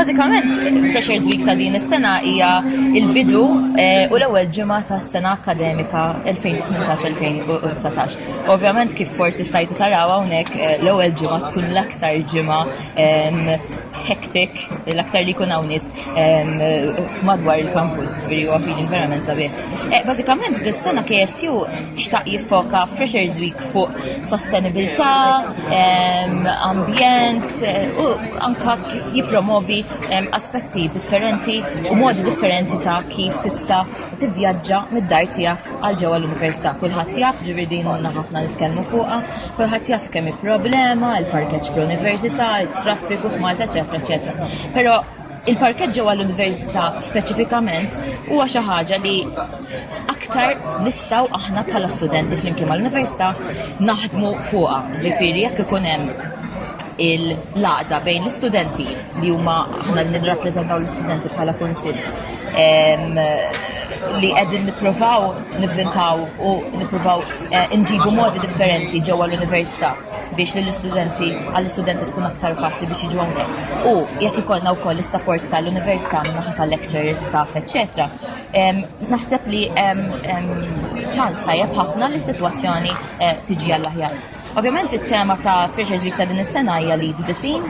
Bażikament, Freshers Week ta' din is-sena hija il-bidu eh, u l-ewwel ġimgħa tas-sena akademika 2018-2019. Ovvjament kif forsi stajtu taraw hawnhekk eh, l-ewwel ġimgħa tkun l-aktar ġimgħa ehm, hektik, l-aktar li jkun hawn nies madwar il-kampus, veri u għafidin verament sabiħ. Eh, Bazzikament, dis-sena KSU xtaq jiffoka Freshers Week fuq sostenibilità, ambjent eh, u anka jipromovi aspetti differenti u modi differenti ta' kif tista' tivvjaġġa mid-dar tiegħek għal ġewwa l-università. Kulħadd jaf ġifieri din għandna ħafna nitkellmu fuqha, kulħadd jaf kemm problema, il-parkeġġ fl-università, it-traffiku f'Malta, eċetera, eċetera. Però il-parkett ġewwa l-università speċifikament huwa xi ħaġa li aktar nistgħu aħna bħala studenti flimkien mal-università naħdmu fuqha. Ġifieri jekk ikun hemm il-laqda bejn l-istudenti li huma aħna nirrappreżentaw l-istudenti bħala kunsill li qegħdin nippruvaw nivvintaw u nippruvaw eh, nġibu modi differenti ġewwa l-università. biex lill-istudenti għall-istudenti tkun aktar faċli biex jiġu hawnhekk. U jekk ikollna wkoll is-sapport tal-università minn naħa tal-lecturers, staff, etc. Naħseb li ċans tajjeb ħafna li s-sitwazzjoni eh, tiġi għall-aħjar. Ovvjament it-tema ta' Freshers Week ta' din is-sena hija li disin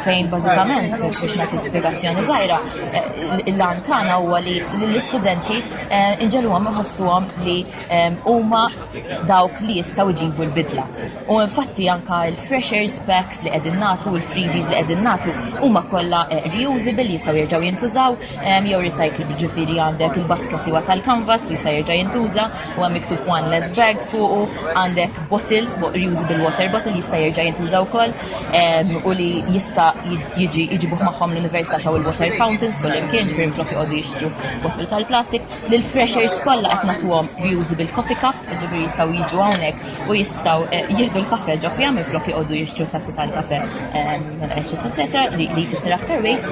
fejn bażikament biex nagħti spjegazzjoni żgħira eh, l-lan tagħna huwa li l-istudenti eh, inġeluhom iħossuhom li huma dawk li jistgħu jġibu l-bidla. U infatti anka l-freshers packs li qegħdin nagħtu u l-freebies li qegħdin nagħtu huma kollha eh, reusable li jistgħu jerġgħu jintużaw ehm, jew recyclable ġifieri għandek il-basket huwa tal-canvas li jista' jerġa' jintuża u hemm miktub one less bag fuqu għandek bottle, reusable water bottle jista' jerġa' jintuża wkoll ehm, u li jista' jiġi jġibuh magħhom l-università xaw il-water fountains kull imkien ġifieri flok joqogħdu jixtru bottle tal-plastik Lil freshers kollha qed nagħtuhom reusable coffee cup, ġifieri jistgħu jiġu hawnhekk u jistgħu eh, jieħdu l-kafe ġo fiha minflok joqogħdu jixtru tazzi tal-kafe eċetera eċetera li jfisser aktar waste.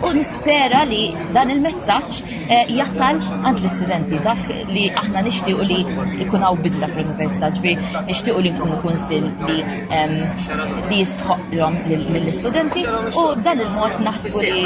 U nispera li dan il-messaġġ eh, jasal għand l-istudenti dak li aħna nixtiequ li jkun hawn bidla fl-università, ġifieri nixtiequ li nkunu kunsill li li jistħoqlhom lill-istudenti u dan il-mod naħsbu li